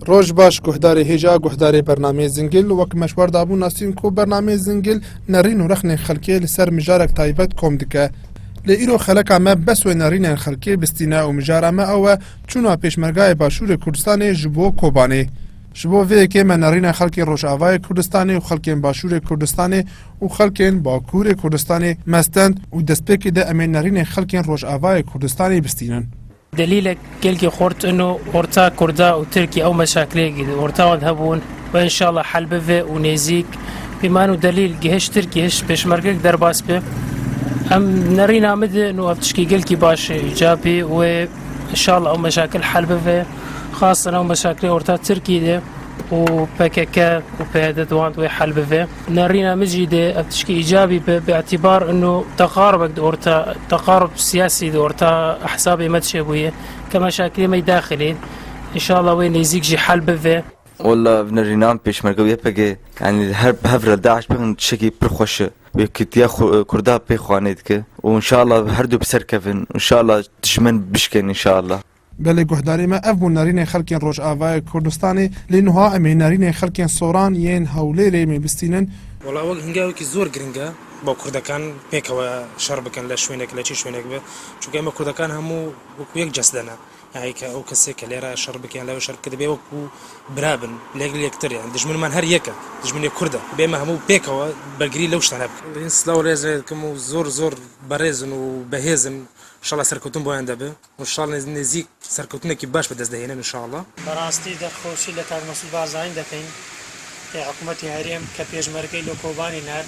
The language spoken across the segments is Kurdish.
Roj baş guhdarê hêj a guhdarê bernameyê Zingil wek meşwar dabû nasîn ku bernameyê Zingil nerîn û rexnên xelkê li ser mijarek taybet kom dike. Lê îro xeleka me bes wê nerînên xelkê bistîne û mijara me ew e çûna pêşmergayê Başûrê Kurdistanê ji bo Kobanê. Ji bo vê yekê me nerînên xelkê Rojavayê Kurdistanê û xelkên Başûrê Kurdistanê û xelkên Bakûrê Kurdistanê me stend û destpêkê de em ê nerînên xelkên Rojavayê Kurdistanê bistînin. Delîlek gelkî xurt in û orta kurda û tirkî ew meşakilê ki di orta wan de hebûn ve înşallah hel bive û nêzîk bi man û delîl ki hiş tirkî hiş pêşmergek derbas be em nerîna min de in û ev tişkî gelkî baş e ca bê wê înşallah ew meşakil hel bive xasen ew meşakilê orta tirkî de û pkk û pyd di wan de wê hel bive. Nerîna min jî dê ev tişkî îcabî be bi îtîbar û teqarubek di orta teqarub siyasî di orta ehzabê me de çêbûye ke meşakilê me yî daxilê in. Înşallah wê nêzîk jî hel bive. Walla ev nerîna min pêşmerge û YPG yanî li her bi hev re DAIŞ bixin tiştekî pir xweş e. Yekîtiya Kurda pê xwe nêdike û înşallah herdu bi ser kevin û înşallah dijmin bişkên înşallah. Belê guhdarî me ev bû nerînê xelkên Rojavayê Kurdistanê lê nuha em ê nerînê xelkên Soran yên Hewlêrê mê bistînin. Wela wek hinga wekî zor giring e bo kurdekan pêkewe şer bikin le şwênek le çi şwênek be çunke eme kurdekan hemû wekû yek cesde ne yahî ke ew kesê ke lêre şer bike yan lewê şer bike dibê wekû bira bin li gel yektir yan dijminman her yek e dijminê kurd e dibê eme hemû pêkewe bergirî lew ştane bikin. Lê hin silaw rêz lê dikim û zor zor berêzin û behêzin inşallah serkewtin boyan de bi. Û şal nêzîk serkewtinekî baş bi dest dihênin inşallah. Bi rastî derxwesî li Kak Mesûd Barzanî dekin ê hikûmetê herêm ke pêşmergeyê li Kobanê ne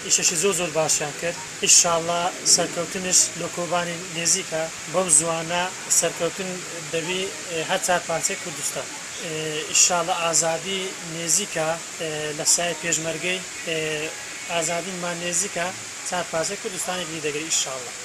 îşeşî zor zor başiyan kir. Inşallah serkewtiniş li Kobanê nêzîk e. Bew ziwana serkewtin dibî her çar parçeyê Kurdistan. Inşallah azadî nêzîk e li sayê pêşmergeyê azadî ma nêzîk e çar parçeyê Kurdistanê li dî digire inşallah.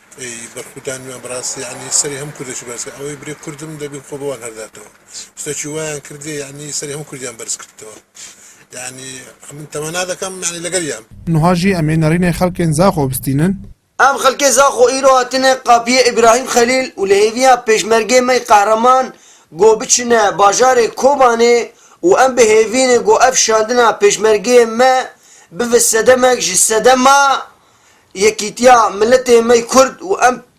Ey berxwda nû em bi rastî yanî serê hemû Kurd jî berz kir. Ewê birê Kurd im debî xwe bi wan herderdewa. Tiştekî wayan kirdî yanî serê hemû Kurdiyan berz kirdtewa. Yanî min temena dikim yanî li gel ya im. Nuha jî em ê nerînê xelkên Zaxo bistînin. Em xelkê Zaxo îro hatine qapiyê Îbrahîm Xelîl û li hêviya pêşmergê me Qehreman got biçine bajarê Kobanê û em bi hêvînê got ev şandina pêşmergeyê me bive sedemek ji sedema yekîtiya miletê me yê Kurd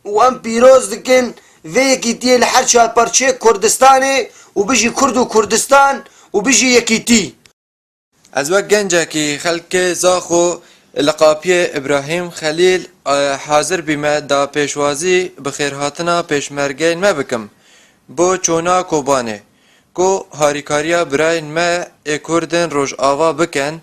û em pîroz dikin vê yekîtiyê li her çar parçeyê Kurdistanê û bijî Kurd û Kurdistan û bijî yekîtî. Ez wek gencekî xelkê Zaxo li qapiyê Îbrahîm Xelîl hazir bîme da pêşwazî bi xêrhatina pêşmergeyên me bikim bo çona Kobanê ku harîkariya birayên me ê Kurd ên Rojava bikin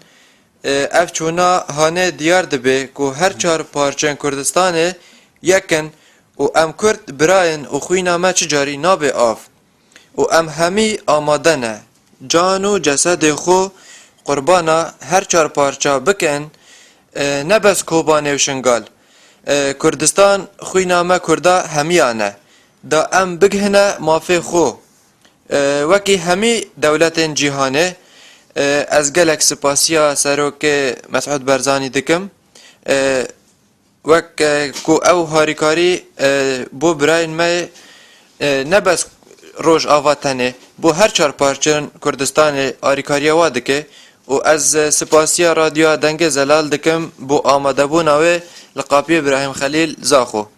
Ev çûna hanê diyar dibe ku her çar parçeyên Kurdistanê yek in û em Kurd birayên û xwîna me çi carî nabe av û em hemî amade ne can û cesedê xwe qurbana her çar parça bikin ne bes Kobanê û Şingal Kurdistan xwîna me Kurda hemiyan e da em bigihine mafê xwe. Wekî hemî dewletên cîhanê ez gelek sipasiya Serokê Mesûd Barzanî dikim wek ku ew harîkarî bo birayên me ye ne bes Rojava tenê bo her çar parçeyan Kurdistanê arîkariya wan dike û ez sipasiya Radyoya Dengê Zelal dikim bo amadebûna wê li qapiyê Brahîm Xelîl Zaxo.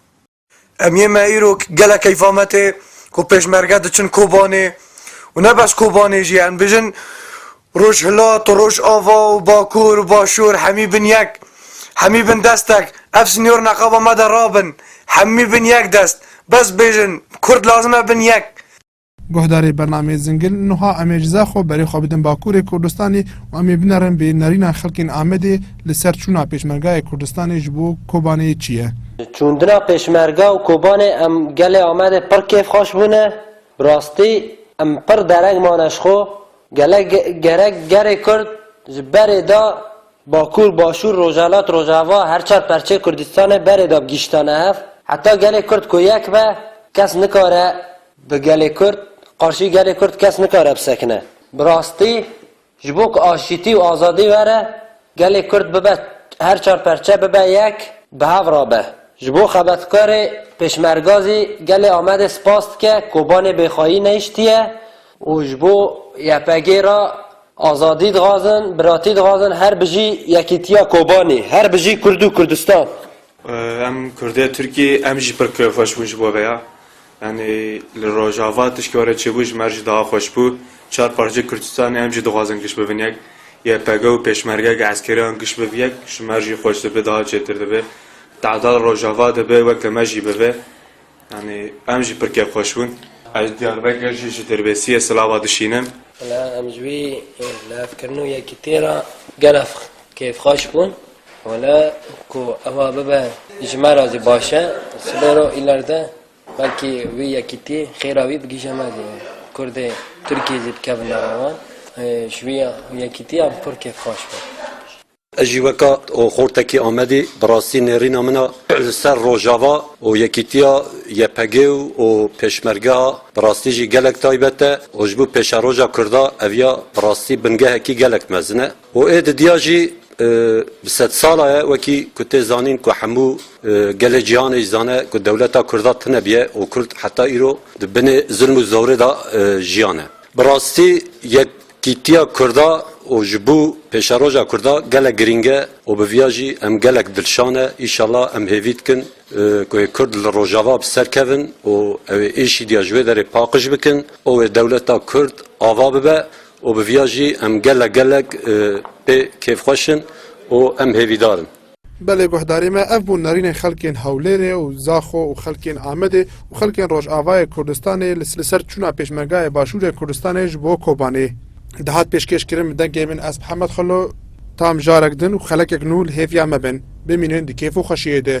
Em yê me îro gelek keyfa me tê ku pêşmerge diçin Kobanê û ne bes Kobanê jî em bijin Rojhilat û Rojava û Bakur û Başûr hemî bin yek, hemî bin destek. Ev sînor neqaba me de rabin, hemî bin yek dest. Bes bêjin, Kurd lazim e bin yek. Guhdarê bernameyê Zingil, Nuha Em ê ji Zexo berê xwe bidin Bakurê Kurdistanê û em ê binerin bê nerîna xelkên Amedê li ser çûna Pêşmergayê Kurdistanê ji bo Kobanê çi ye. Çûndina Pêşmerga û Kobanê em gelê Amedê pir kêfxweş bûne. Bi rastî em pir dereng mane ji xwe. Gelek gerek gerê Kurd ji berê da Bakur, Başûr, Rojhilat, Rojava her çar perçeyê Kurdistanê berê da bi gihiştane hev. Heta gelê Kurd ku yek be kes nikare Bi gelê Kurd, qarşî gelê Kurd kes nikare bisekine. Bi rastî ji bo ku aşîtî û azadî were, gelê Kurd bibe her çar perçe bibe yek, bi hev re be. Ji bo xebetkarê Pêşmerga zî gelê Amedê spas dike, Kobanê bêxwayî nehiştiye û ji bo YPG'ê re azadî dixwazin, biratî dixwazin, her bijî yekîtiya Kobanê, her bijî Kurd û Kurdistan. Em Kurdê Tirkî, em jî pir kêfxweş bûn ji bo vêya. Yanî li Rojava tişkî were çêbû ji mer jî daha xweş bû. Çar parçeyê Kurdistanê em jî dixwazin giş bibin yek. YPG û pêşmergeyeke eskerî an giş bibe yek ji mer jî xweş dibe daha çêtir dibe. Tahta li Rojava dibe wek li me jî bibe. Yanî em jî pirkek xweş bûn. Ez Diyarbekir jî ji Dirbêsiyê Silava dişînim. Em ji wî lêvkirin û yekîtiyê re gelek kêfxweş bûn. Wala ku ewa bibe ji me re jî baş e. Sibê re û îlerde belkî wî yekîtî xêra wî bigihîje me jî. Kurdê Tirkî jî dikevin nava wan. Ji wî yekîtiyan pir kêf xweş bû. Ez jî weka xortekî Amedî bi rastî nêrîna min a li ser Rojava û yekîtiya YPG û Pêşmergeha bi rastî jî gelek taybet e û ji bo pêşeroja Kurda ev ya bi rastî bingehekî gelek mezin e. Û ê didiya jî bi sedsala ye wekî ku tê zanîn ku hemû gelê cîhanê jî zane ku dewleta Kurda tune biye û Kurd heta îro di binê zilm û zorê de jiyane. Bi rastî yekîtiya Kurda û ji bo pêşeroja Kurda gelek girîng e û bi viya jî em gelek dilşan e. Îşala em hêvî dikin ku ê Kurd li Rojava bi ser kevin û ew ê êşîdiya ji wê derê paqij bikin û wê dewleta Kurd ava bibe. Û bi viya jî em gelek gelek pê kêfxweş in û em hêvîdar in. Belê guhdarê me ev bû nerînên xelkên Hewlêrê û Zaxo û xelkên Amedê û xelkên Rojavayê Kurdistanê li ser çûna pêşmergayê Başûrê Kurdistanê ji bo Kobanê dihat pêşkêş kirin bi dengê min ez Hemed Xelo tam jarek din û xelekek nû li hêviya me bin bimînin di kêf û xweşiyê de.